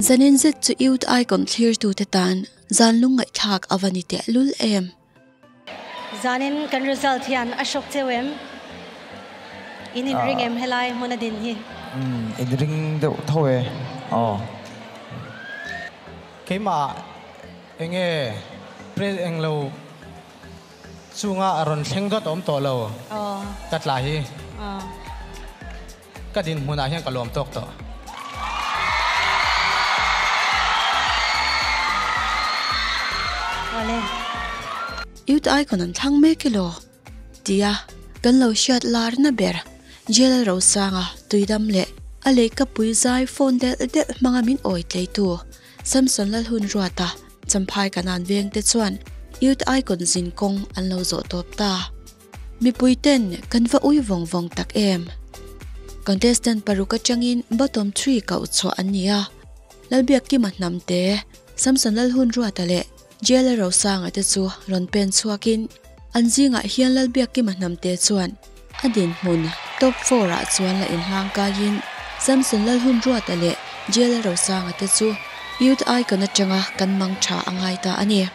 Zanin zet chu youth ai kawm thlir tu te tan zan lung ngaih thlak a va ni teh lul em. Zanin kan result hian a shock cheu em? In inring em helai hmuna din hi? Umm in ring deuh tho e. Aw. Keimah enge pre englo. Chunga a rawn thleng vat awm tawh lo ka tla hi ka dinhmunah hian ka lawm tawk tawh. Youth icon an thlang mek i law tia kan lo hriat larna ber Jl Rosanga tuidam leh a lehkapui zai phone delh delh hmanga min awi tleitu Samson Lalhun Ruata, Champhai Kanan Veng te chuan Youth Icon zin kawng an lo zawh tawp ta. Mipui ten kan va ui vawng vawng tak em. Contestant paruk atangin bottom three kauh chhuah an ni a. Lalbiak Kim a hnam te, Samson Lalhun Ruata leh Jailer Rosanga te chu rawn pen chhuak in an zingah hian Lalbiak Kima Hnamte chuan a dinhmun top four ah chuan la inhlang kai in Samson Lalhunruata leh Jailer Rosanga te chu Youth Icon atanga kan mang tha a ngai ta a ni.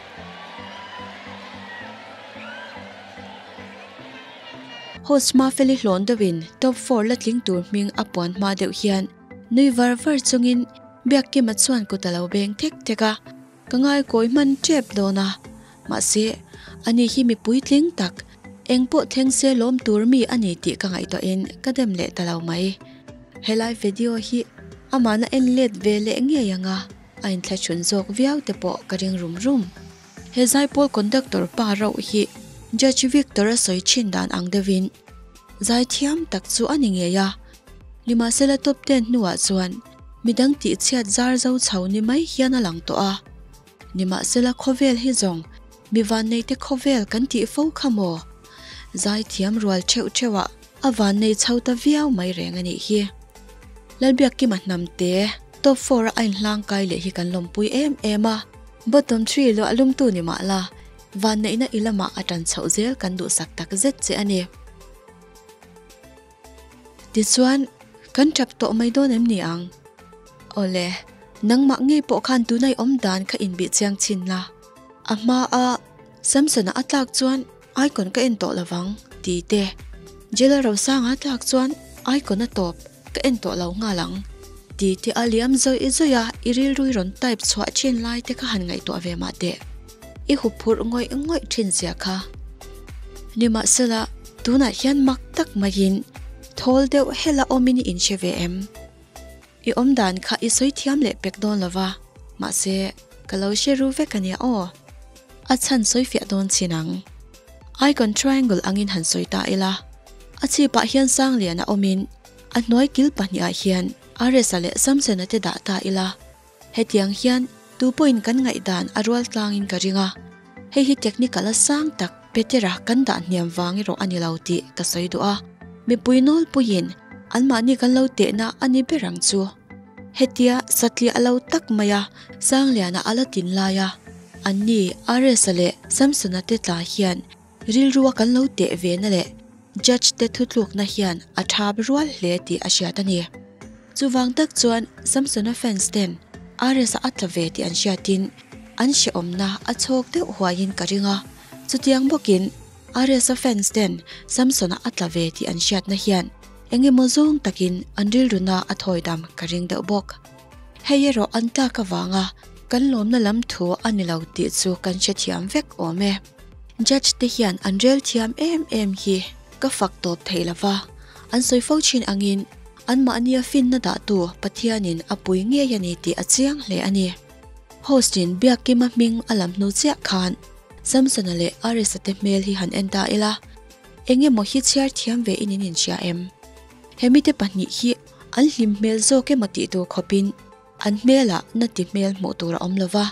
Host Mafeli hlawn deuh in top four la tling tur hming a puan hma deuh hian nui var var chung in Biak Kima chuan kut a lo beng thek thek a. Ka ngaikawi hman tep dawn a, mahse, ani hi mi puitling tak, engpawh thleng se lawm tur mi a ni tih ka ngaihtuah in ka dem leh ta lo mai. Helai video hi amahna en let ve leh ngei ang a, a inthlaṭhun zawk viau te pawh ka ring rum rum. He Zaipawl conductor pa rauh hi Judge Victor a sawi ṭhin dan ang deuh in, zai thiam tak chu a ni ngei a, nimahsela top ten hnuah chuan Midang tihchhiat zar zo chho ni mai hian a lang tawh a, nimahsela khawvel hi zawng mi vanneite khawvel kan tih fo kha maw? Zaithiam rual theuh theuhah a vannei chho ta viau mai reng a nih hi. Lalbiak kima hnamte top four-a a inhlang kai leh hi kan lawmpui em em a, bottom three luah lungtu ni mah la, vanneihna i lamah a tan chhoh zel kan duhsak tak zet che a ni. Tichuan, Kan tap tawh mai dawn em ni ang? Awle, nangmah ngei pawh khan tuna i awm dan kha inbih chiang chin la. A hmaa, Samsona a tlak chuan Aikon ka en tawh lovang ti te. Jela Rosanga tlak chuan Aikon a tawp, ka en tawh lo nghal ang ti te a liam zawih zawih a i rilrui rawn type chhuah chin lai te kha han ngaihtuah ve mah teh. I huphurh ngawih ngawih thin chiah kha. Nimahsela, tunah hian mak tak maiin thawl deuh hela awmin i inhre ve em? I awm dan kha i sawi thiam leh pek dawn lova, mahse, ka lo hre ru vek a nia aw. A chhan sawi fiah dawn chin ang. Icon triangle angin han sawi ta ila. A chhipah hian Sangliana awmin a hnuai kil pahnihah hian Aresa leh Samsona te dah ta ila. Hetiang hian tu pawhin kan ngaihdan a rual tlangin ka ring a, hei hi technical a sang tak Peter-a kan dah hniam vang erawh a ni lo tih ka sawi duh a. Mipui nawlpuiin anmahni kan lo tehna a ni ber ang chu. Hetia satliah a lo tak mai a, Sangliana a la tin lai a, anni Ares-a leh Samson-a te tla hian Rilrua kan lo teh ve na leh Judge te thutlukna hian a thap rual hle tih a hriat a ni. Chuvang tak chuan Samsona fans ten Ares a atla ve tih an hriatin an hrehawmna a chhawk deuh huaiin ka ring a. Chutiang bawkin Ares-a fans ten Samson a atla ve tih an hriatna hian engemaw zawng takin an rilruna a thawidam ka ring deuh bawk. Hei erawh an tlak avanga kan lawmna lam thu a ni lo tih chu kan hrethiam vek awm e. Judge te hian an rel thiam em em hi ka fak tawp theih lo va, an sawi fo thin angin anmahnia finna dahtu Pathianin a pui ngei a ni tih a chiang hle a ni. Host in Biakima hming a lam hnu chiah khan Samsona leh Arisa te hmel hi han en ta ila, Eng emaw hi chhiar thiam ve in in inhria em? He mite pahnih hi An hlim hmel zawk em a tih tur khawpin an hmelah na ti hmel hmuh tur a awm lo va,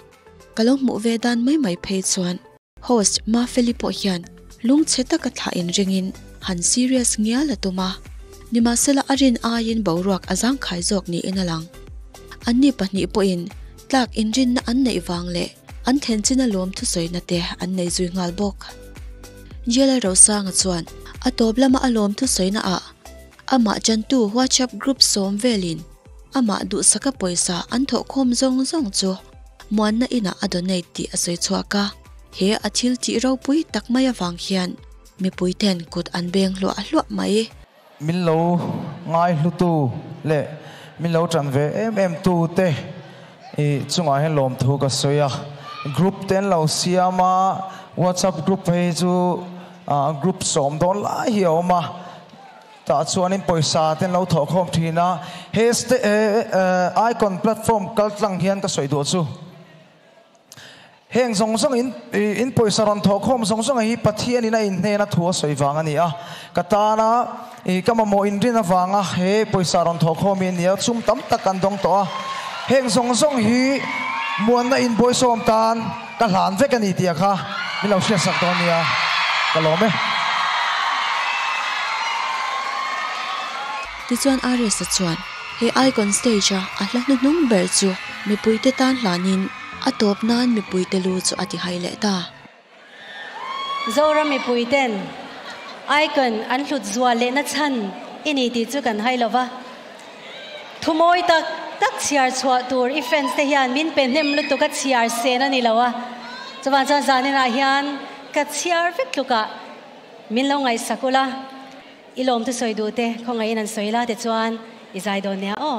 ka lo hmuh ve dan mai mai phei chuan. Host Mafeli pawh hian lung chhe taka thlah in ringin han serious ngial a tum a, nimahsela a rin aiin boruak a zangkhai zawk niin a lang. Anni pahnih pawhin tlak inrinna an neih vang leh an thlenchin a lawm thusawina te an nei zui nghal bawk. Jl Rosanga chuan a tawp lama a lawm thusawina ah Amah chantu WhatsApp group sawm velin amah duhsaka pawisa an thawhkhawm zawng zawng chu Muanna inah a donate tih a sawi chhuak a, he a thil tih ropui tak mai avang hian mipui ten kut an beng hluah hluah mai. Min lo ngaihlutu leh min lo tan ve em em tu te chungah hian lawmthu ka sawi a, group te an lo siam a, WhatsApp group phei hi chu group sawm dawn lai hi a awm a, Tah chuanin pawisa ten lo thawhkhawm thin a, he Icon platform kal tlang hian ka sawi duh chu. Heng zawng zawng in in pawisa rawn thawhkhawm zawng zawng hi Pathian in a in hnen a thu a sawi vang a ni a, ka tan a ka mamawh in rin avang a he pawisa rawn thawhkhawm hi a ni a, chum tam tak kan dawng tawh a, heng zawng zawng hi muanna in bawihsawm tan. Ka hlan vek a ni tih a kha min lo hriat sak dawn nia ka lawm e. Tichuan Ares-a chuan, He Icon Stage-a a hla hnu hnung ber chu mipuite tan hlanin a tawp nan mipuite lu chu a ti hai leh ta. Zoram mipuite'n Icon an hlut zual lehna chhan i ni tih chu kan hai lo va. Thumawi tak tak chhiar chhuah tur i fans te hian min pe hnem lutuk a chhiar sen a ni lo a. Chuvang chuan zaninah hian ka chhiar vek tlukah min lo ngaihsak ula, i lawmtu sawi duh te khawngaihin an sawi la tichuan i zai dawn nia aw.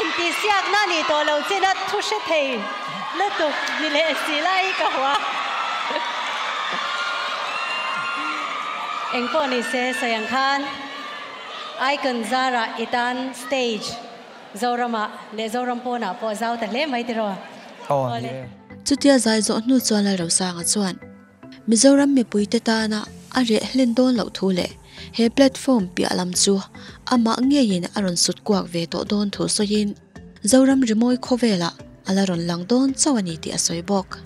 Intihsiakna a nih tawh lo chin a, thu hre thei lutuk ni leh si lai ka hmu a. Engpawh ni se sawi ang khan Icon zara i tan stage Zoramah leh Zoram pawnah pawh zau ta hle mai tiraw? Aw a ni e. Chutia zai zawh hnu chuan Lai Rosanga chuan Mizoram mipuite tana a reh hlen dawn loh thu leh he platform piah lam chu amah ngeiin a rawn sut kuak ve tawh dawn thu sawiin Zoram rimawi khawvela a la rawn lang dawn chauh a ni tih a sawi bawk.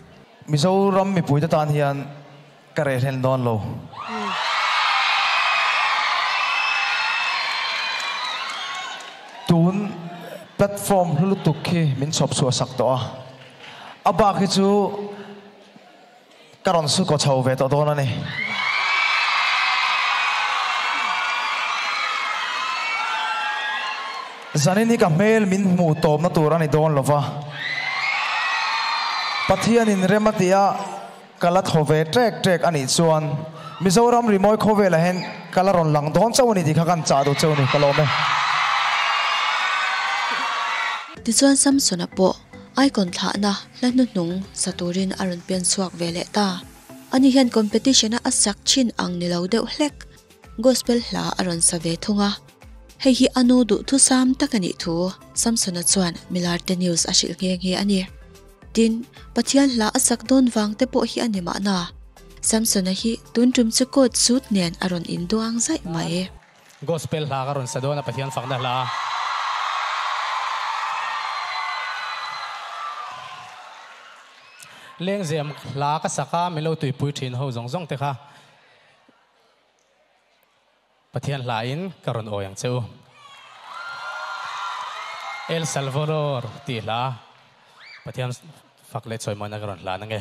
Mizoram mipuite tan hian Ka reh hlen dawn lo. Tun platform hlu lutuk khi min chhawp chhuah sak tawh a. A bak hi chu ka rawn suko chho ve tawh dawn a ni. Zanin hi ka hmel min hmuh tawpna tur a ni dawn lova. Pathianin rem a tia. Ka la thaw ve ṭek ṭek a nih chuan Mizoram rimawi khawvel ah hian ka la rawn lang dawn chauh a ni tih kha ka han chah duh chauh a ni, ka lawm e. Tichuan Samsona pawh Aikon thlahna hla hnuhnung sa turin a rawn pian chhuak ve leh ta. Ani hian competition-a a sak ṭhin ang ni lo deuh hlek. Gospel hla a rawn sa ve thung a. Hei hi a nu duhthusam tak a nih thu Samsona chuan Milarte News a hrilh nghe nghe a ni. Tin, Pathian hla a sak dawn vang te pawh hi a ni mahna, Samsona hi tun tum che court suit nen a rawn induang zaih mai. Gospel hla ka rawn sa dawn a, Pathian fakna hla a. Lengzem hla ka sak a, min lo tuipui thin ho zawng zawng te kha. Pathian hla in ka rawn awi ang che u. El Salvador tih hla Pathian fak leh chawimawh na ka rawn hlan ange.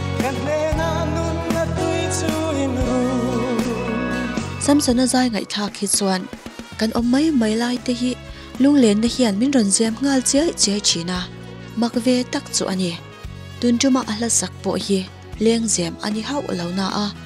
Samsona zai ngaihthlak hi chuan kan awm mai mai lai te hi lunglenna hian min rawn ziam nghal chiai chiai thin a, mak ve tak chu a ni. Tun tumah a hla sak pawh hi leng zem a ni hauh lo na a.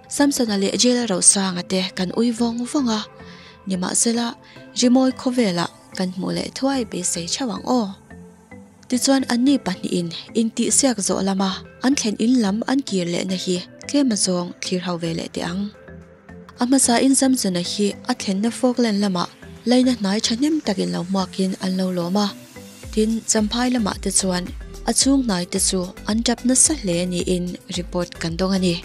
Samsona leh Jela Rosanga te kan ui vawng vawng a, nimahsela rimawi khawvela kan hmuh leh thuai beisei theuh ang aw. Tichuan anni pahnihin intihsiak zawh lama an thlen in lam an kir lehna hi tlema zawng thlir hauh ve leh teh ang. A hmasain Samsona hi a thlenna Falkland lama laina hnai thahnem takin lo hmuakin an lo lawm a. Tin, Champhai lamah te chuan a chhung hnai te chu an tap nasa hle niin report kan dawng a ni.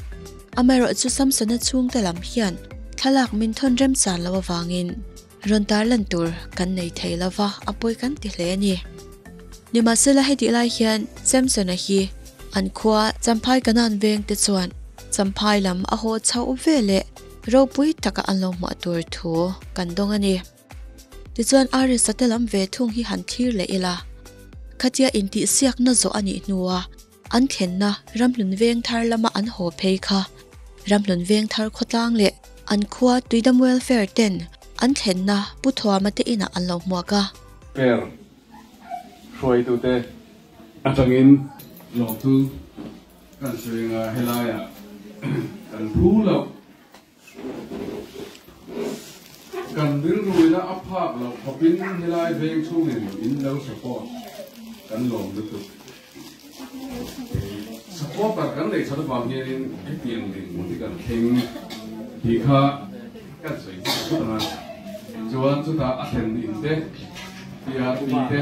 Amaherawh chu Samsona chhungte lam hian thlalak min thawn remchar lo avangin rawn tarlan tur kan nei thei lo va, a pawi kan ti hle a ni. Nimahsela hetih lai hian Samsona hi an khua Champhai kanan veng te chuan Champhai lam a haw chauh ve leh ropui taka an lo hmuh tur thu kan dawng a ni. Tichuan Aristotela lam ve thung hi han thlir leh ila, khatia intihsiakna zawh a nih hnuah an thlenna ramhlun veng thar lama an haw phei kha ramhlun veng thar khawtlang leh an khua tuidam welfare ten an thlenna pu thuama te inah an lo hmuak a. Per hruaitute atangin lawmtu kan sawi anga helaiah kan hru loh. Kan rilruina a phak loh khawpin helai veng chungin in lo support kan lawm lutuk. Supporter kan neih chhan avang hianin heti ang din hi kan thleng tih kha kan sawi dik phut ang a. Chuan chuta a thlen in te, TRP te,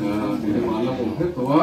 aa, tih te mahla a awm hek tawh a.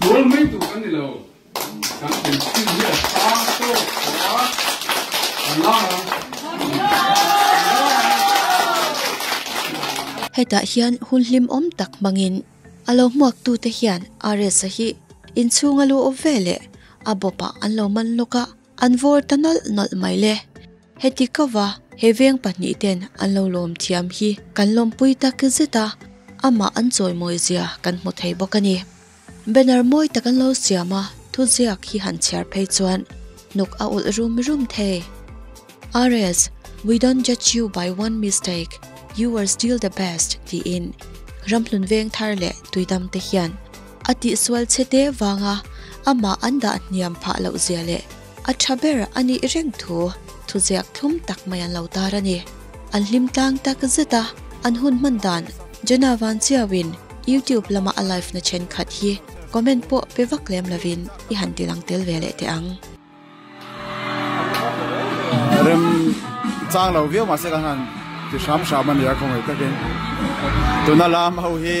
Tual mai tur kan ni lo. Kan inchhung hi a sang tawk tawh a, kan la ang. Hetah hian hun hlim awm tak hmangin a lo hmuaktute hian RSA hi inchhunga lu awp veleh a bawpah an lo man lawk a, an vawr ta nawlh nawlh mai le. Heti ka va, he veng pahnih ten an lo lawm thiam hi kan lawmpui tak zet a, amah an chawimawi zia kan hmu thei bawk a ni. Banner mawi tak an lo siam a, thu ziak hi han chhiar phei chuan hnuk a ulh rum rum thei. RS, We don't judge you by one mistake, you were still the best tiin ramhlun veng thar leh tuidam te hian a tihsual chhe te vanga amah an dah hniam phah loh zia leh, A tha ber a nih reng thu thuziak thlum tak mai an lo tar a ni. An hlim tlang tak zet a, an hun hman dan Jenna van chiauin YouTube lama a live-na thenkhat hi comment pawh pe vak lem lovin i han ti lang tel ve leh teh ang. Rem chang lo viau mahse kan han ti hram hram a nia khawngei takin. Tuna lam ho hi.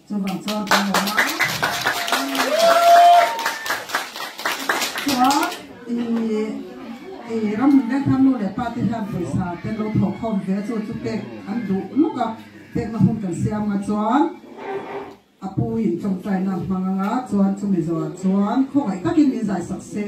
Chu vang chuan kan lo hma a. Chuan i ram ber khan nu leh pa te hian pawisa te an lo thawk khawm ve a chu chu pek an duh luk a. Pekna hun kan siam nga chuan a puin tawngtaina hmang anga chuan chu mizoah chuan khawngaih takin min zai sak se.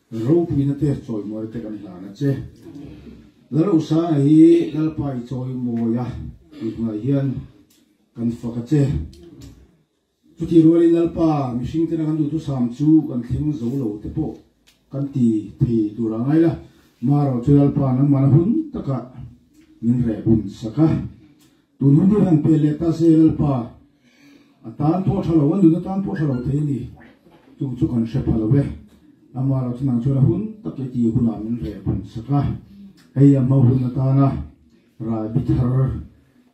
Ropuina te chawi mawi te kan hlan a che. Larosaanga hi Lalpa i chawi mawi a tih hnuai hian kan fak a che. Chutih rualin Lalpa mihring tena kan duhtu sam chu kan thleng zo lo te pawh kan ti thei tur a ngai la. Maerawh chu Lalpa nangmahna hun takah min reh hun sak a. Tun hun te hian Pele ta se Lalpa a tan pawh tha lo, a nuna tan pawh tha lo thei a ni. Chung chu kan hre pha lo e. Lamah erawh chuan ang chuan a hun tak i ti hunah min reh phan sak a. Hei a hma hun atana ralbi thar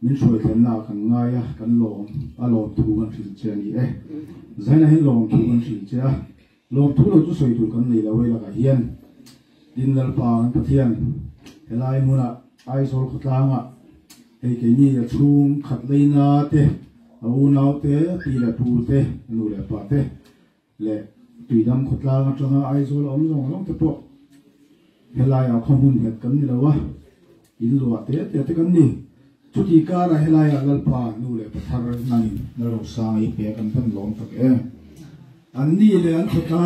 min hruaithlenna ah kan ngai a, kan lawm a lawmthu kan hrilh che a ni e. Zainahin lawmthu kan hrilh che a. Lawm thu lo chu sawi tur kan nei lo e lakah hian tin Lalpa an Pathian helai hmuna Aizawl khawtlanga hei keini a chhung khatleina te, a unau te, a pi leh pu te, a nu leh pa te leh tuidam khawtlang atanga Aizawl a awm zawng zawng te pawh helaiah khawmun nghet kan ni lo a, In luah te te te kan ni. Chuti kar ah helai ah Lalpa nu leh pathar nan in na ro sang ei pek an hman lawm tak em. An ni leh an khaw ta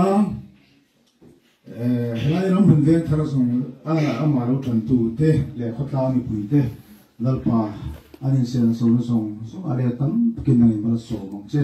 eh helai ram hun veng thar zong ah amah lo tan tu te leh khaw tlang mipui te Lalpa an in sel naso na zong zong ah le tam tak in nan in hman a sawm ang che.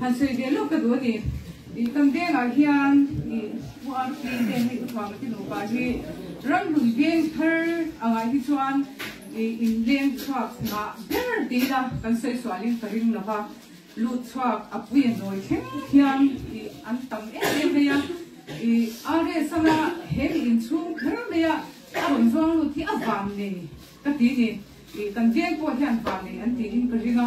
Han sawi ve lawk ka duh a ni. Ih kan vengah hian ih URP te hei Uthua Matinawpa hi ramhlun veng thar angah hi chuan ih inleng chhuak nghah ber tiin a kan sawi sualin ka ring lo va, lut chhuak a puia nawi thleng hian ih an tam em em mai a. Ih RS anga he mi inchhung kher maia a rawn zuang lut hi a vam nei ka ti a ni. Ih kan veng pawh hian vam nei an tiin ka ring a.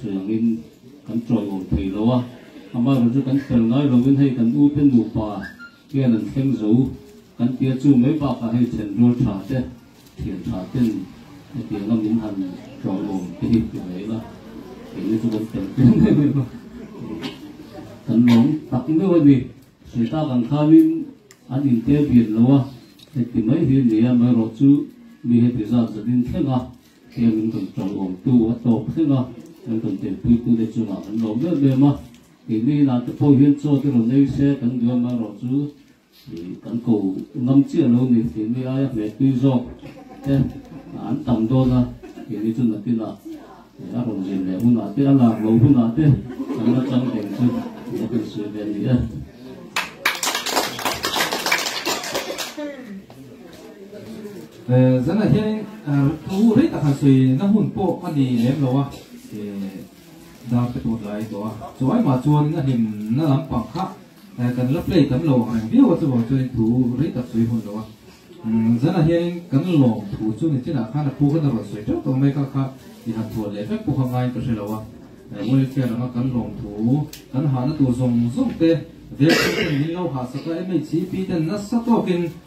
Chhun angin kan tawilo thei lo a, amaherawh chu kan fel ngai lovin hei kan ute nupa hian an thleng zo kan tia chu mai bakah hei thenrual tha te, thian tha ten hetiang a min han tawilo te hi ti rei la, keini chu kan fel tel mai mai va, kan lawm tak meuh a ni, Sweeta kan khanin an intel bial lo a, heti mai hi a ni a, amaherawh chu mi heti zat zanin thleng a Heng an kan tang awmtu a tawp hlek a, an kan telpuitu te chungah an lawm ber ber ma, kei mai ila te pawh hian chaw te rawn ei se kan duai mai erawh chu ih kan ko ngam chiah lo ni kei mai aia hmeh tui zawk te an tam dawn a, kei mai chu natinah ih a rawn zir leh hunah te a lak lo hunah te kan la chang deng chu ih a kan sawi ve ani e. Zanah hianin thu rei takah sawi na hun pawh a ni lem lo a, dar te pawh tlai tawh a, chu ai mah chuan na hlim na lampang kha kan la play tam lo ang reng viau a, chuvang chuan thu rei tak sawi hun lo a, zanah hianin kan lawm thu chu ni chinah khan a pu kha na rawn sawi teuh tawh mai kha kha i han thuan leh vek pawh kha ngai ka hre lo a, welfare anga kan lawm thu kan hahna tur zawng zawng te vek chhung ten min lo hahsak a, MHCP ten nasa tawkin.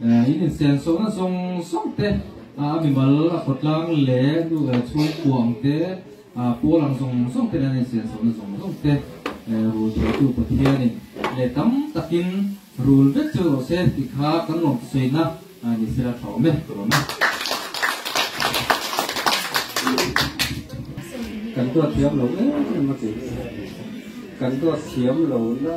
In insiam suakna zawng zawng te, a mimal, a khawtlang leh chhungkuang te, pawl ang zawng zawng ten an insiam suakna zawng zawng te rul theitu Pathianin leh tam takin rul vek chu rawh se tih kha kan lawmsawiina ni sela thawm e, thawm e. Kan duat thiam lo em em a tih hi, kan duat thiam lohna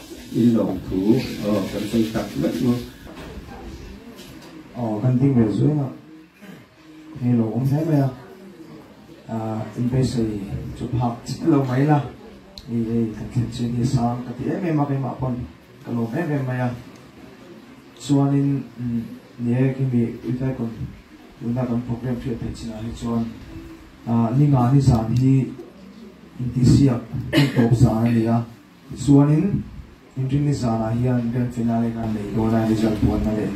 In lawng thu aw kan sawi tak meuh meuh. Aw kan ding ve zuing a ngei lo awm hle mai a ah in beisei chu phak chik lo mai la ei ei kan thlen chin hi sang ka ti em em a keimah pawn ka lawm em em mai a chuanin umm ni e kemi ritai kawn tunah kan program hriat theih chin ah hi chuan ah ni ngani zan hi intihsiak hun tawp zan a ni a. Tichuanin, inring ni zanah hian Grand Finale khan nei dawn a, result buatna leh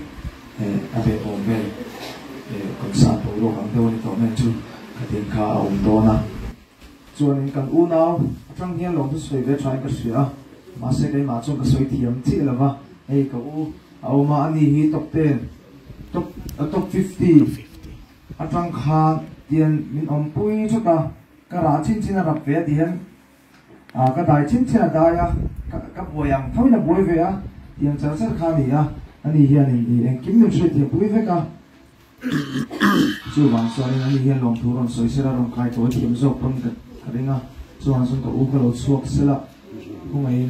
he a beuhawm vel kan san tawh ruak ang deuh a ni tawh men chu ka tin kha a awm dawn a. Chuanin kan unau atang hian lawmhna sawi ve thain ka hria a, mahse keimah chuan ka sawi thiam chiah lo va, hei ka u, a awm a, ani hi top ten, top top fifty atang khan tian min awmpui thut a, ka rah chin chin a rap ve a ti hian A ka dai chhin chhin a dai a, ka ka buai ang tho in a buai ve a, tiang char char kha a ni a, ani hianin i engkim min hriat thiam pui vek a, chuvang chuanin ani hian lawm thu rawn sawi sel a, rawn kai tawi thiam zawk pawn ka ka ring a, chuvang sawn ka u ka lo chhuak sel a, khawngaihin.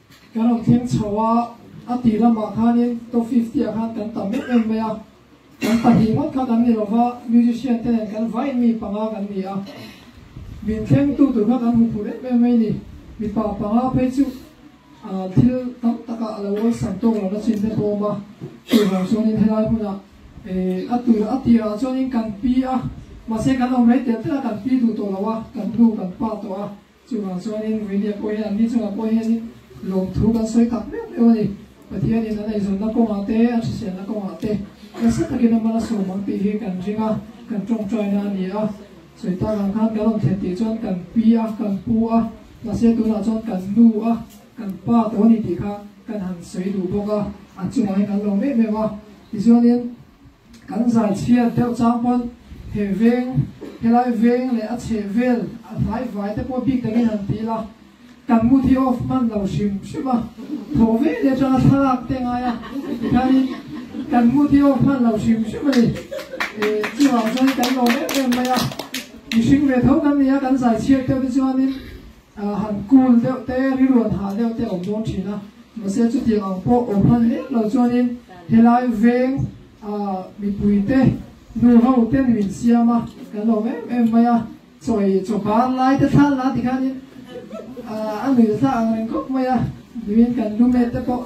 Ka rawn thleng chho a, a tih lamah khanin top fifty ah khan kan tam em em mai a, kan pahnih ngawt kha kan ni lo va, musician te nen kan vai mi panga kan ni a, min thlengtu tur kha kan hmu phur em em mai ni, mipa panga phei chu ah thil tam taka a lo awlsam tawk lo na chin te pawh awm a, chu vang chuanin helai hmuna eh a tur a tirah chuanin kan pi a, mahse kan awm rei tel tel a kan pi duh tawh lo a, kan hnu kan pa tawh a. Chuvang chuanin Ruihhliah pawh hian an ni chungah pawh hianin lawmthu kan sawi tak meuh meuh a ni. Pathianin an eizawnna kawngah te, a hriselna kawngah te, nasa takin a man a sawm ang tih hi kan ring a, kan tawngtaina a ni a. Sawi tak ang khan kan rawn thlen tih chuan kan pi a, kan pu a, mahse tunah chuan kan nu a, kan pa tawh a ni tih kha kan han sawi duh bawk a, a chungah hian kan lo meuh meuh a. Tichuanin. Kan zan chhiat deuh chang pawn he veng, he lai veng leh a chheh vel a hlai vai te pawh bik dangin han ti la, kan mood hi off hman lo hrim hrim a, thawh vel hi atanga thlalak te ngai a tikhanin kan mood hi off hman lo hrim hrim a ni. Eh chuvang chuan kan lawm em em mai a, mihring ve tho kan ni a kan zai chhiat deuh te chuanin. Han kul deuh te, riruan hah deuh te a awm dawn thin a, mahse chutiang ang pawh awm hman leh lo chuanin helai veng mipuite, nu ho te ni min siam a, kan awm em em mai a, chawi chaw par lai te thlan la ti khanin a nuih ta thlak ang reng kawp mai a, nimin kan lu met te pawh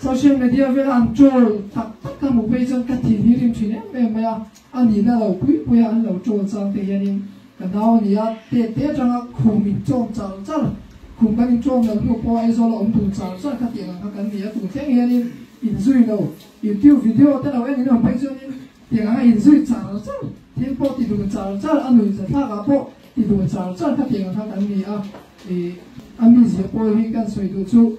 Social media vela an troll tak tak ka hmuh phei chuan ka thinhir in thin em em mai a, a nih na lo pui pui a an lo troll chang te hian in ka nau a ni a, te te atang a khum in tawm char char, khum kan in tawm lo hnu pawh Aizawl a awm tur char char kha tih ang kha kan ni a, tun thleng hian in in zui lo, YouTube video te lo en in awm phei chuan in tiang ang a in zui char char, thil pawh ti dun char char, a nuih za thlak ah pawh ti dun char char kha tih ang kha kan ni a, ih a mi zia pawi hi kan sawi duh chu.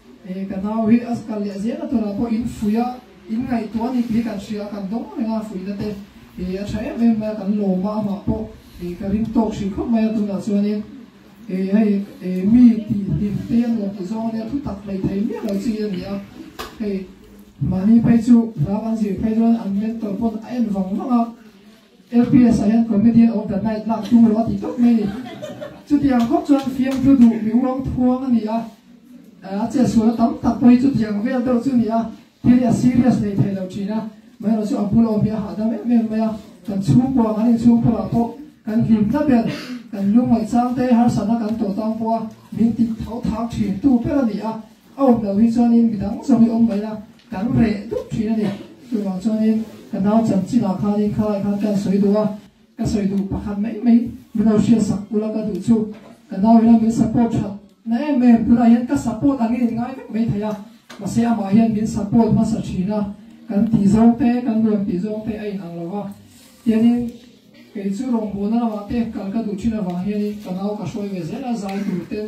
He ka nau hi a kal leh zel a tunah pawh in fuih a, in ngaihtuah a nih tih hi kan hria a, kan dawng a reng a fuih na te hi a tha em em mai a, kan lawm a, amah pawh hi ka ring tawk hri khawp mai a, tunah chuanin hi hei mi tih hlim te a nuam tih zawng ania thu tak hleih thei miah lo chi a nia hei mahni phei chu hla kan zir phei dawn an mentor pawn a en vang vang a, FPS-ah hian Comedian of the Night lak tur a ti tawp mai ni. Chutiang khawp chuan fiamthu duh mi uang phuang a ni a, a chetsualna tam tak pawh hi chutiang vel deuh chu a ni a, thil hi a serious nei thei lo thin a, maherawh chu a bulawm hi a hahdam em em mai a, kan chhung pawh a, kan inchhung phur ah pawh kan hlim ta ber, kan lungmai chang te harsatna kan tawh tang pawh a, min tih tho thang thin tu ber a ni a. A awm lo hi chuanin mi dang zawk hi awm mai la, kan reh dup thin a ni. Chuvang chuanin ka nau chanchinah khanin khalai khan kan sawi duh a, ka sawi duh pakhat mai mai mino hria sak ula ka duh chu. Ka nau ina min support that na em em tunah hian ka support angin in ngai vek mai thei a, mahse amah hian min support hmasa thin a, kan tih zawng te, kan ruat tih zawng te a in ang lo va. Tianin kei chu rawngbawlna lamah te kal ka duh thin avang hianin ka nau ka hruai ve zel a, zai tur ten,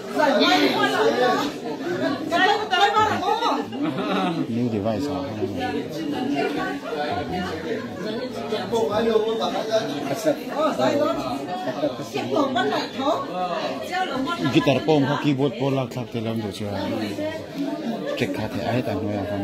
New device ah Guitar pawm kha keyboard pawh lak thlak theih lam duh che a, check kha theih a heta hnuaiah khan.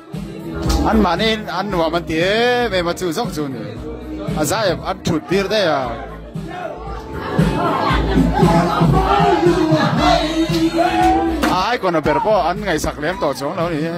An mahni in an nuam an ti em em a chu zawk chu ni. A za em an thut tir daih a. A ai kona ber pawh an ngaihsak lem tawh chuang lo ni e.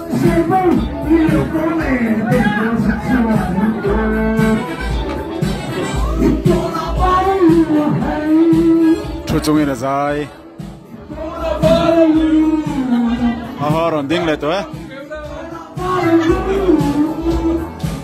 Thu chungin a zai. Aha rawn ding leh tawh e.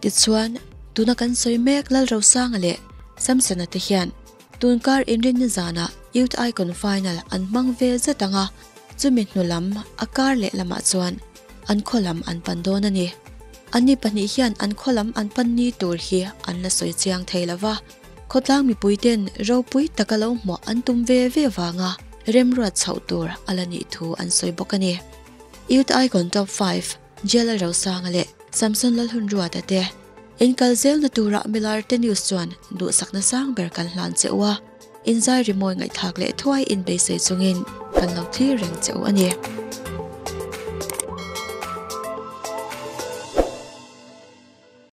Tichuan, tuna kan sawi mek Lal Rosanga leh Samsona te hian tun kar inrin ni zanah Youth Icon Final an hmang ve zet ang a, chumi hnu lam a kar leh lamah chuan an khaw lam an pan dawn a ni. An ni pahnih hian an khaw lam an pan ni tur hi an la sawi chiang thei lo va, khawtlang mipuite'n ropui taka lo hmuah an tum ve ve vanga remruat chhoh tur a la nih thu an sawi bawk a ni. Youth Icon Top Five. Jailer Rosanga leh Samson Lalhunruata te in kal zel na tura Milarte News chuan duhsakna sang ber kan hlan che u a, inzai rimawi ngaihthlak leh thuai in beisei chungin kan lo thlir reng che u a ni.